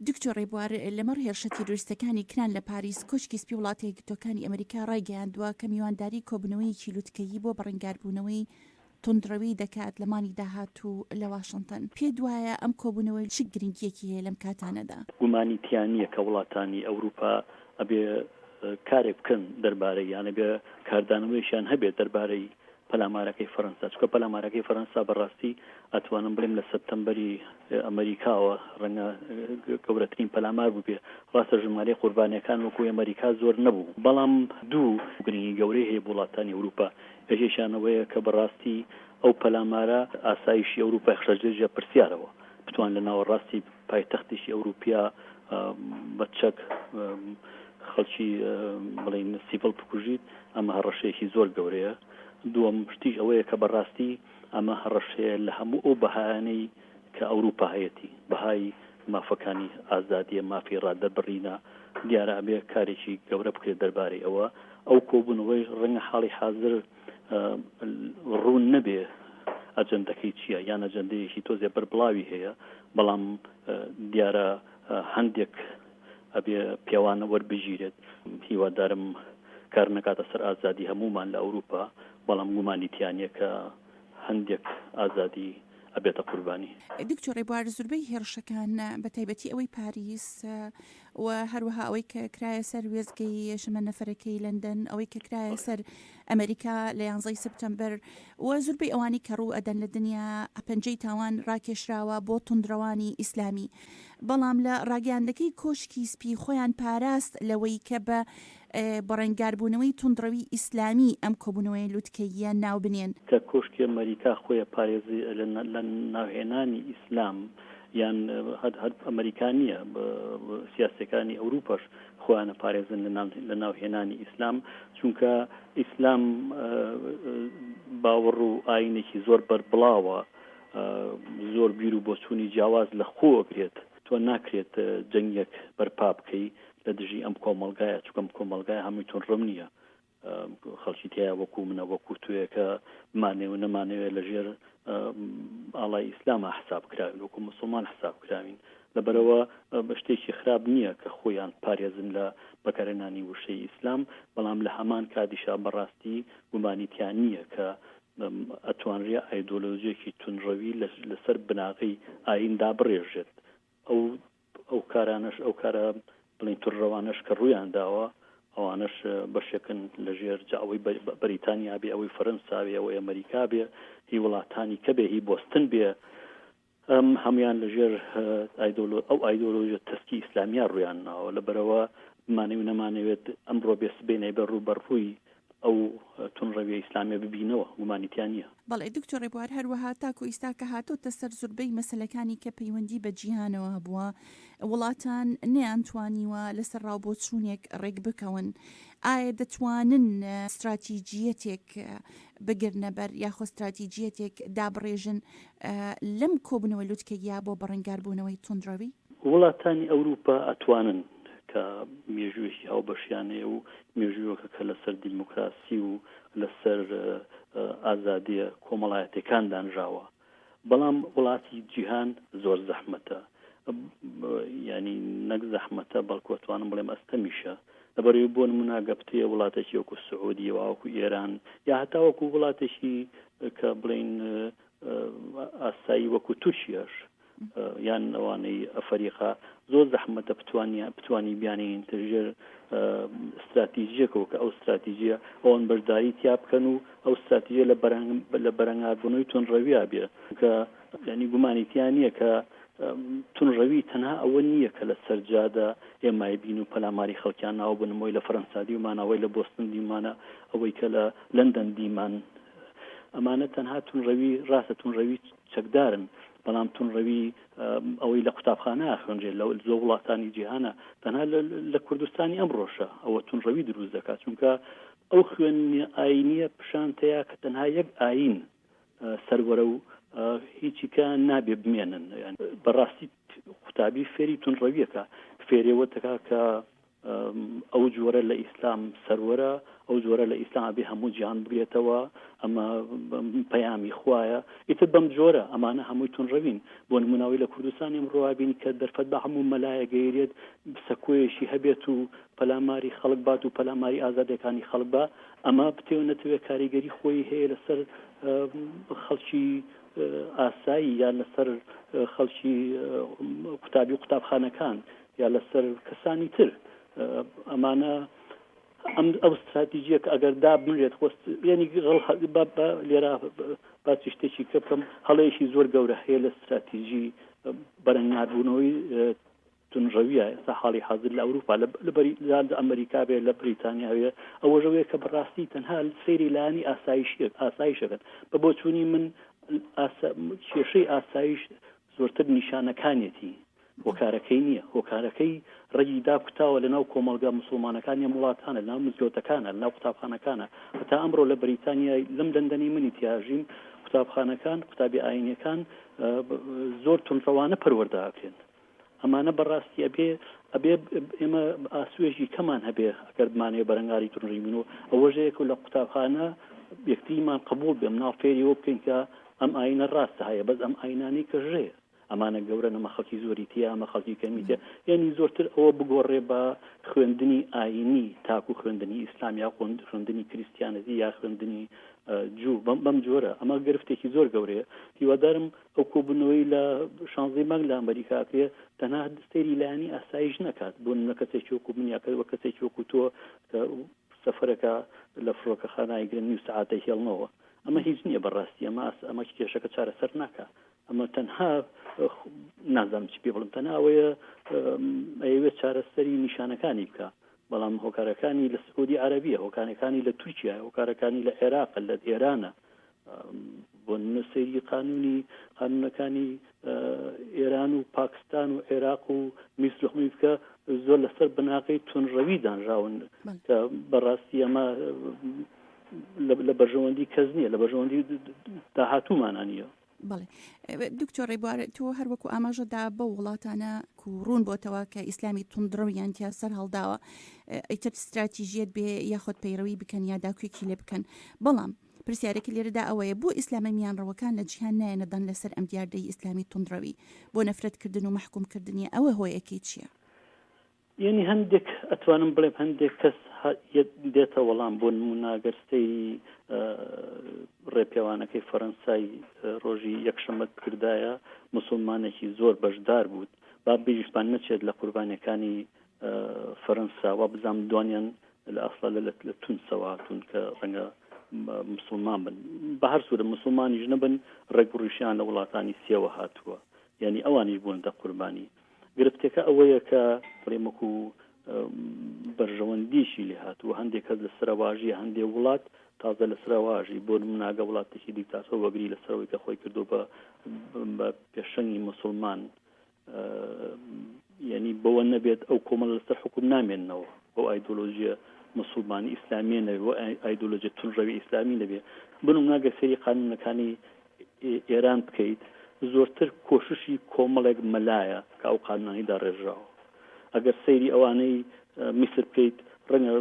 دکتۆر ڕێبوار، لەمەڕ هێرشە تیرۆریستەکانی کران لە پاریس، کۆشکی سپی وڵاتە یەکگرتووەکانی ئەمریکا ڕایگەیاندووە کە میوانداری کۆبوونەوەیەکی لوتکەیی بۆ بەڕەنگاربوونەوەی توندڕەوی دەکات لە مانگی داهاتوو لە واشنتن. پێت وایە ئەم کۆبوونەوە چ گرنگییەکی هەیە لەم کاتانەدا؟ گومانی تیا نییە کە وڵاتانی ئەوروپا ئەبێ کارێک بکەن دەربارەی یانە بێ کاردانەوەیشیان هەبێت دەربارەی پەلامارەکەی فەرەنسا چکە پەلامارەکەی فەرەنسا بەڕاستی ئەتوانم بڵێم لە سەپتەمبەری ئەمریکاوە ڕەنگە گەورەترین پەلامار بووبێ ڕاستە ژمارەی قوربانەکان وەکو ئەمریکا زۆر نەبوو بەڵام دوو گرنگی گەورەی هەیە وڵاتانی ئەوروپا یەکێکیانەوەیە کە بەڕاستی ئەو پەلامارە ئاسایشی ئەوروپای خشەجێژە پرسیارەوە بتوان لە ناوەڕاستی پایتەختێکی ئەوروپیا بە چەک خەڵکی بڵین سیڤڵ بکوژیت ئەمە هەڕەشەیەکی زۆر گەورەیە دووەم شتیش ئەوەیە کە بەڕاستی ئەمە هەڕەشەیە لە هەموو ئەو بەهانەی کە ئەوروپا هەیەتی بەهای مافەکانی ئازادیە مافی ڕادەبڕینە دیارە ئەبێ کارێکی گەورە بکرێت دەربارەی ئەوە ئەو کۆبوونەوەی ڕەنگە حاڵی حاضر ڕوون نەبێ ئەجندەکەی چییە یان ئەجندەیەکی تۆزێ بەربڵاوی هەیە بەڵام دیارە هەندێک ئەبێ پێوانە وەربگیرێت هیوادارم کار نەکاتە سەر ئازادی هەمومان لە ئەوروپا بەڵام گومانی تیانە کە هەندێک ئازادی ئەبێتە قوربانی دکتۆر ڕێبوار زوربەی هێڕشەکان بە تایبەتی ئەوەی پاریس و هەروەها ئەوەی کە کرایە سەر وێستگەی شەمەندەفەرەکەی لەندەن، ئەوەی کە کرایە سەر ئەمەریکا لە یانزەی سپتەمبەر و زوربەی ئەوانی کە ڕوو ئەدەن لە دنیا پەنجەی تاوان ڕاکێشراوە بۆ توندڕەوانی ئیسلامی بەڵام لە ڕاگەیاندەکەی کۆشکی سپی خۆیان پاراست لەوەی کە بە بەڕەنگاربوونەوەی توندڕەوی ئیسلامی ئەم کۆبوونەوەیە لوتکەییە ناو بنێن. کە کۆشکی ئەمەریکا خۆی پارێزی لە ناوهێنانی ئیسلام یان هەر ئەمەریکا نییە سیاسەکانی ئەوروپاش خۆیانە پارێزن لە ناوهێنانی ئیسلام چونکە ئیسلام باوەڕ و ئاینێکی زۆر بەربڵاوە زۆر بیر و بۆچوونی جیاواز لە خۆگرێت تۆ ناکرێت جەنگێک بەرپا بکەی لە دژی ئەم کۆمەلگایە چکەم کۆمەلگای هەمووی تون ڕم نییە خەڵکی تیا وەکو منە وەکو توێەکە مانێ و نەمانەوێت لە ژێر ئاڵای ئیسلامە حساب کراوین وەکو مسلمان حساب کراوین لەبەرەوە شتێکی خراپ نییە کە خۆیان پارێزن لە بەکارێنانی وشەی ئیسلام بەڵام لە هەمان کاتیشا بەڕاستی گومانیتیان نییە کە ئەتوانرێ ئایدۆلۆژیەکی تونڕەوی لەسەر بناغی ئاییندا بڕێژێت ئەو ئەو کارانەش ئەو کارە بڵین تر ڕەوانەش کە ڕویان داوە ئەوانش بەشێکن لە ژێر جاوەی بەریتانیا بێ ئەوەی فەرەنساوێ ئەوەی ئەمریکا بێ هی وڵاتانی کە بێ هی بستن بێ ئەم هەموان لە ژێر ئایدۆلۆ ئەو ئایدۆلۆژە تەسکی ئیسلامیا ڕویان ناوە لە بەرەوە مانەوی نەمانەوێت ئەمڕۆ بێ سبێنێ بە ڕوو بەڕووی ئەو تون ڕەویە ئیسلامیە ببینەوە گومانی تیا نیە. بەڵێ دکتۆر ڕێبوار هەروەها تاکو ئیستا کە هاتۆتە سەر زوربەی مەسەلەکانی کە پەیوەندی بە جیهانەوە هەبوە وڵاتان نەیان توانیوە لەسەر ڕاو بۆچونێک ڕێک بکەون ئایا دەتوانن ستراتیجیەتێک بگرنە بەر یاخۆ ستراتیجیەتێک دابڕێژن لەم کۆبنەوە لوتکەیە بۆ بەڕنگار بونەوەی توندڕەوی؟ وڵاتانی ئەوروپا ئەتوانن کە مێژوێکی هاوبەشیانەیە و مێژوویەکە لەسەر دیموکراسی و لەسەر ئازادیە کۆمەڵایەتیەکان دانراوە بەڵام وڵاتی جیهان زۆر زەحمەتە ینی نەک زەحمەتە بەڵکوتوانم بڵێم ئەستەمیشە لەبەروی بۆ مناگەپتەیە وڵاتێکی وەکو سعودی واوەکو ئێران یا هەتاوەکو وڵاتێکی کە بڵین ئاسایی وەکو تورکیاش یان ئەوانەی ئەفەریقا زۆر زەحمەتە بتوانیان بتوانی بیانین تر ژێر استراتیژیەکەەوە کە ئەو استراتیژیە ئەوان بەرداری تیا بکەن و ئەو استراتیژە لە بەرەنگ لە بەرەنگاربوونەوەی تون ڕەویا بێ کە ینی گومانیتیان نییە کە تون ڕەوی تەنها ئەوە نییە کە لە سەرجادە ئێمای بین و پەلاماری خەڵکیان ناو بنمەوەی لە فەرەنسا دیمانەوەی لە بۆستن دیمانە ئەوەی کە لە لەندەن دیمان ئەمانە تەنها تون ڕەوی ڕاستە تون ڕەوی چەکدارن، بەڵام توندڕەوی ئەوەی لە قوتابخانە ئاخوێنرێت لە زۆر وڵاتانی جیهانە، تەنها لە کوردستانی ئەمڕۆشە ئەوە توندڕەوی دروست دەکات، چونکە ئەو خوێندنە ئایینییە پیشانتەیە کە تەنها یەک ئایین سەروەرە و هیچی کە نابێ بمێنن، بەڕاستی قوتابی فێری توندڕەوییەکە فێرێوە دەکات کە ئەو جۆرە لە ئیسلام سەروەرە، ئەو جۆرە لە ئیسلام ئەبێ هەموو جیهان بگرێتەوە، ئەمە پەیامی خوایە، ئیتر بەم جۆرە ئەمانە هەمووی تونڕەوین، بۆ نموونە ئەوەی لە کوردستان ئیمڕۆ ئەبینی کە دەرفەت بە هەموو مەلایەک گەیرێت سەکۆیەکی هەبێت و پەلاماری خەڵک بات و پەلاماری ئازادیەکانی خەڵک با، ئەمە بتەوێ نەتەوێ کاریگەری خۆی هەیە لەسەر خەڵکی ئاسایی یان لەسەر خەڵکی قوتابی و قوتابخانەکان، یا لەسەر کەسانی تر ئەمانە ئەم ئەو ستراتیژیە کە ئەگەر دابنرێت خۆست ینی لێرا باسی شتێکی کە بکەم هەڵەیەکی زۆر گەورە هەیە لە ستراتیژی بەرەنگاربوونەوەی تونڕەویە ئێستا حاڵی حاضر لە ئەوروپا لە بەری لە ئەمریکا بێ لە بریتانیاوێ ئەوەژەوەیە کە بەڕاستی تەنها سەیری لانی ئاسایشێک ئاسایشەکەن بە بۆچوونی من کێشەی ئاسایش زۆرتر نیشانەکانیەتی هۆکارەکەی نیە، هۆکارەکەی ڕەگی داکوتاوە لەناو کۆمەڵگا موسڵمانەکانی ئەم وڵاتانە، لەناو مزگەوتەکانە، لەناو قوتابخانەکانە، هەتا ئەمڕۆ لە بریتانیای لەم لەندەنەی منی تیاژیم قوتابخانەکان، قوتابی ئاینیەکان زۆر توندڕەوانە پەروەردە ئەکرێن، ئەمانە بەڕاستی ئەبێ ئەبێ ئێمە ئاسوێژی کەمان هەبێ ئەگەر بمانەوێ بەرەنگاری توندڕەوی بین و ئەوەژەیەک لە قوتابخانە یەکتریمان قبوڵ بێ مناڵ فێری ئەوە بکەین کە ئەم ئاینە ڕاستە هەیە بەس ئەم ئاینانەی کە ژەیە ئەمانە گەورە نەمە خەڵکی زۆری تیا ئەمە خەڵکی کەمیتە یعنی زۆرتر ئەوە بگۆڕێ بە خوێندنی ئاینی تاکو خوێندنی ئیسلام یا قۆند خوێندنی کریسیانەتی یا خوێندنی جو بەم بەم جۆرە ئەمە گرفتێکی زۆر گەورەیە هیوادارم ئەو کۆبوونەوەی لە شانزەی مانگ لە ئەمریکاکرێ تەنها سەیری لایانی ئاسایش نەکات بۆ نە کەسێکی وەکو من یاکە وە کەسێکی وەکو تۆ سەفرەکە لە فڕۆکە خانایگرن نیو سعاتە هێڵنەوە ئەمە هیچ نییە بەڕاستی ئەمە ئەمە کێشەکە چارەسەر ناکە ئەمە تەنها نازانم چی پێ بڵم تەناوەیە ئەوێت چارەسەری نیشانەکانی بکە بەڵام هۆکارەکانی لە سعودی عربیە هۆکارەکانی لە تورکیا هۆکارەکانی لە عێراق لە ئێرانە بۆ نووسری قانونی قانونەکانی ئێران و پاکستان و عێراق و میسر هەمووی بکە زۆر لەسەر بناغی تونڕەوی دانراون کە بەڕاستی ئەمە لە بەرژەوەندی کەس نییە لە بەرژەوەندی داهاتوومانە نیە بڵێ دکتۆر ڕێبوار تۆ هەروەکو ئاماژەدا بە وڵاتانە کو ڕوون بۆتەوە کە ئیسلامی تونندڕەویان تیا سەر هەڵداوە ئیتر استراتیژیت بێ یاخود پەیڕەوی بکەن یا داکوێکی لێ بکەن بەڵام پرسیارێکی لێرەدا ئەوەیە بۆ ئیسلامە میانڕەوەکان لە جیهان نایەنەدان لەسەر ئەم دیاردەی ئیسلامی تونندڕەوی بۆ نەفرەتکردن و محکومکردنی ئەوە هۆیەکەی چییە؟ یەنی هەندێک ئەتوانم بڵێم هەندێک کەس دێتە وەڵام بۆ نموناگەر سەیری ڕێپێوانەکەی فەرەنسای ڕۆژی یەکشەمەت بکردایە مسلمانێکی زۆر بەشدار بووت با بیریشمان نەچێت لە قوربانەکانی فەرەنسا و بزانام دوانیان لە ئەسڵە لە لە تونسەوە هاتوون کە ڕەنگە مسلمان بن بە هەر سوورە مسلمانیش نەبن ڕێک ڕیشیان لە وڵاتانی سێوە هاتووە یعنی ئەوانیش بوون دە قوربانی گرفتەکە ئەوەیە کە بڵێم وەکو بەرژەوەندیشی لێ هاتووە هەندێک کەس لە سەرواژی هەندێ وڵات تازە لە سەرواژی بۆ مناگە وڵاتێکی دیکتاتۆ وەگری لە سەرەوەی کە خۆی کردو بە بە پێشەنگی مسلمان یعنی بەوە نەبێت ئەو کۆمەڵ لەسەر حکوم نامێنەوە ئەو ئایدۆلۆژیە مسلمانی ئیسلامیە نەوێ ئایدۆلۆژی تونڕەوی ئیسلامی نەبێ بنم ناگە سری قانونەکانی ئێران بکەیت زۆرتر کۆششی کۆمەڵێک مەلایە کە ئەو قانونانەی داڕێژراوە ئەگەر سەیری ئەوانەی میسر بکەیت ڕەنگە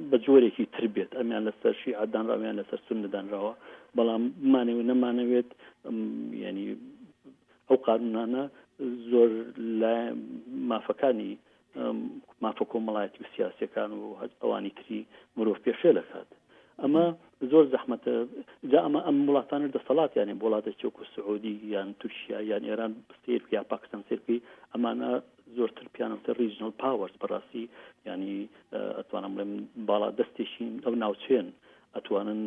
بە جۆرێکی تر بێت ئەمیان لەسەر شیعە دانراویان لەسەر سون نەدانراوە بەڵام بمانەوێت نەمانەوێت ینی ئەو قانونانە زۆر لە مافەکانی مافە کۆمەڵایەتی و سیاسەکان و هەر ئەوانی تری مرۆڤ پێشێل دەکات ئەمە زۆر زەحمەتە جا ئەمە ئەم وڵاتانە دەسەڵات یانێ وڵاتە چۆک و سعودی یان تورکیا یان ئێران سیر یا پاکستان سرپی ئەمانە زۆرتر پیانوتە ریژنل پاوەرز بەڕاستی ینی ئەتوانم بڵێم باڵا دەستێکین ئەو ناوچێن ئەتوانن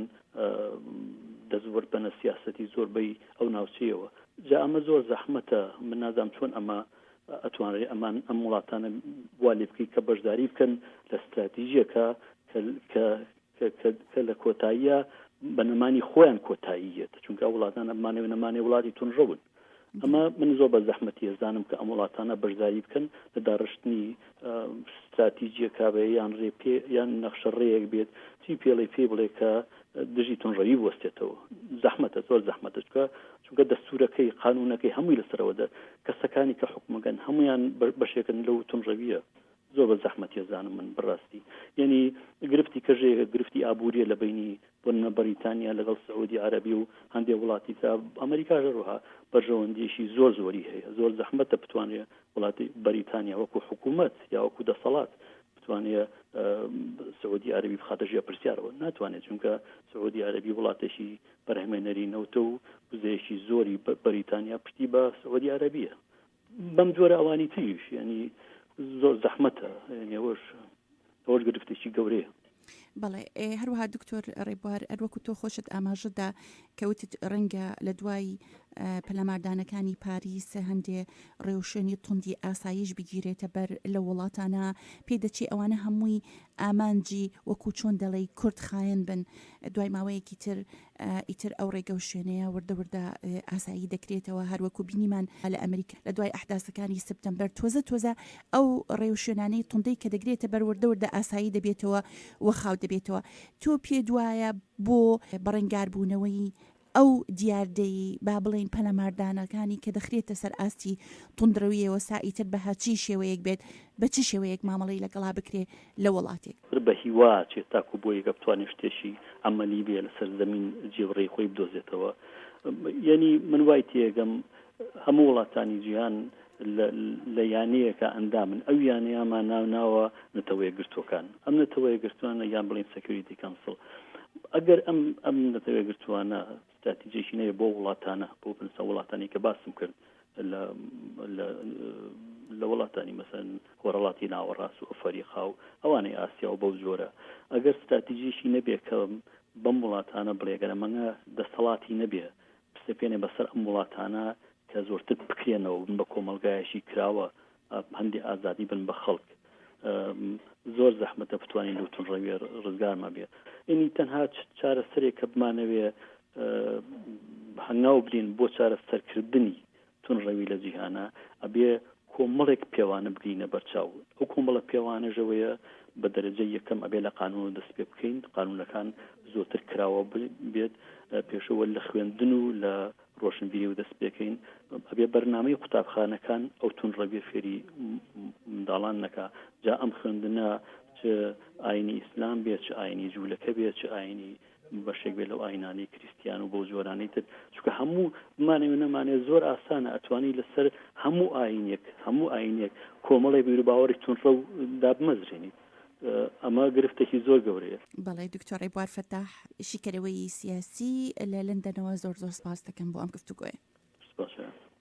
دەستوەر بەنە سیاستی زۆربەی ئەو ناوچەیەوە جا ئەمە زۆر زەحمەتە من نازام چۆن ئەمە ئەتوانرێ ئەمان ئەم وڵاتانە وا لێ بکەیت کە بەشداری بکەن لە ستراتیژیەکە کە لە کۆتاییە بە نەمانی خۆیان کۆتاییەت چونکە وڵاتان ئەمانێ نەمانێ وڵاتی تونڕەون ئەمە من زۆر بە زەحمەتی هێزانم کە ئەم وڵاتانە بەشداری بکەن لە داڕشتنی ستراتیجیە کابێ یان ڕێ پێ یان نەخشە ڕێیەک بێت چی پێڵی پێ بڵێ کە دژی تونڕەوی بستێتەوە زەحمەتە زۆر زەحمەتە چکە چونکە دەستورەکەی، قانونەکەی هەمووی لەسەرەوە دە کەسەکانی کە حوکمەگەن هەموویان بە بەشێکن لەو تونڕەویە زۆر بە زەحمەتیە زانم من بەراستی یەنی گرفتی کەژێ گرفتی ئابوریە لە بەینی بۆ نمە بەریتانیا لەگەڵ سعودی عەرەبی و هەندێ وڵاتی ترا ئەمەریکاش هەروها بەرژەوەندیەکی زۆر زۆری هەیە زۆر زەحمەتە بتوانێ وڵاتی بەریتانیا وەکو حکومەت یا وەکو دەسەڵات بتوانێ سعودی عەرەبی بخاتە ژێ پرسیارەوە ناتوانێت چونکە سعودی عەرەبی وڵاتێکی بەرهەمێنەری نەوتە و وزەیەکی زۆری بەریتانیا پشتی بە سعودی عربیە بەم جۆرە ئەوانی تریش ینی زۆر زەحمەتە نێوەش ئەوەش گرفتێکی گەورەیە بەڵێ هەروها دکتۆر ڕێبوار ئەروەکو تۆ خۆشت ئاماژەدا کەوتت ڕەنگە لە دوای پەلاماردانەکانی پاریس هەندێ ڕێوشێنی توندی ئاساییش بگیرێتە بەر لە وڵاتانە پێدەچی ئەوانە هەمووی ئامانجی وەکو چۆن دەڵی کورد خایەن بن دوای ماوەیەکی تر ئیتر ئەو ڕێگە و شوێنەیە وردە وردە ئاسایی دەکرێتەوە هەروەکو بینیمان لە ئەمریکا لە دوای ئەحداسەکانی سپتەمبەر تۆزە تۆزە ئەو ڕێ و شوێنانەی توندەی کە دەگرێتە بەر وردە وردە ئاسایی دەبێتەوە و خاو دەبێتەوە تۆ پێ دوایە بۆ بەڕنگاربوونەوەی ئەو دیاردەی با بڵێین پەلاماردانەکانی کە دەخرێتە سەر ئاستی توندڕەوییەوە سائیتر بە هەر چی شێوەیەک بێت، بە چ شێوەیەک مامەڵەی لەگەڵا بکرێ لە وەڵاتێک. تر بە هیوا چێت تاکوو بۆ یەکە بتوانێ شتێکی عەمەلی بێ لە سەر زەمین جێوڕێی خۆی بدۆزێتەوە. یەنی من وای تێ ئەگەم هەموو وڵاتانی جیهان لە یانەیەکا ئەندامن ئەو یانەیامان ناوناوە نەتەوە یەکگرتووەکان ئەم نەتەوە یەکگرتووانە یان بڵێن سەکیوریتی کەنسڵ ئەگەر ئەم ئەم نەتەوە یەکگرتووانە ستراتیجێکی نەیە بۆ وڵاتانە بۆ بنسە وڵاتانی کە باسم کرد لە لە وڵاتانی مەسەن خۆرەڵاتی ناوەڕاست و ئەفریقا و ئەوانەی ئاسیا و بەو جۆرە ئەگەر ستراتیژیشی نەبێ کە بەم وڵاتانە بڵێگەرە مەنگە دەستەڵاتی نەبێ بسەپێنێ بەسەر ئەم وڵاتانە کە زۆرتر بکرێنەوە و بن بە کۆمەڵگایەکی کراوە، پەندی ئازادی بن بە خەڵک. زۆر زەحمەتە بتوانین لەو توندڕەوییە ڕزگارمان بێت. ئینی تەنها چارەسەرێک کە بمانەوێ هەنگاو بنێین بۆ چارەسەرکردنی توندڕەوی لە جیهانا، ئەبێ کۆمەڵێک پێوانە بگرینە بەرچاو. ئەو کۆمەڵە پێوانەش ئەوەیە بە دەرەجەی یەکەم ئەبێ لە قانوونەوە دەست پێ بکەین، قانوونەکان زۆرتر کراوە بێت، پێشەوە لە خوێندن و لە ڕۆشنبیری و دەستپێکەین ئەبێ بەرنامەی قوتابخانەکان ئەو تون ڕەویە فێری منداڵان نەکا جا ئەم خوێندنە چ ئاینی ئیسلام بێ چ ئاینی جوولەکە بێ چ ئاینی بەشێک بێ لەو ئاینانی کریسیان و بۆ جۆرانەی تر چکە هەموو بمانەوە نەمانێ زۆر ئاسانە ئەتوانی لەسەر هەموو ئاینێک هەموو ئاینێک کۆمەڵی بیرو باوەڕی تونڕە و دابمەزرێنیت ئەمە گرفتێکی زۆر گەورەیە بەڵێ دکتۆر ڕێبوار فەتاح شیکەرەوەی سیاسی لە لەندەنەوە زۆر زۆر سپاس دەکەم بۆ ئەم گفتوگۆیە سپاس.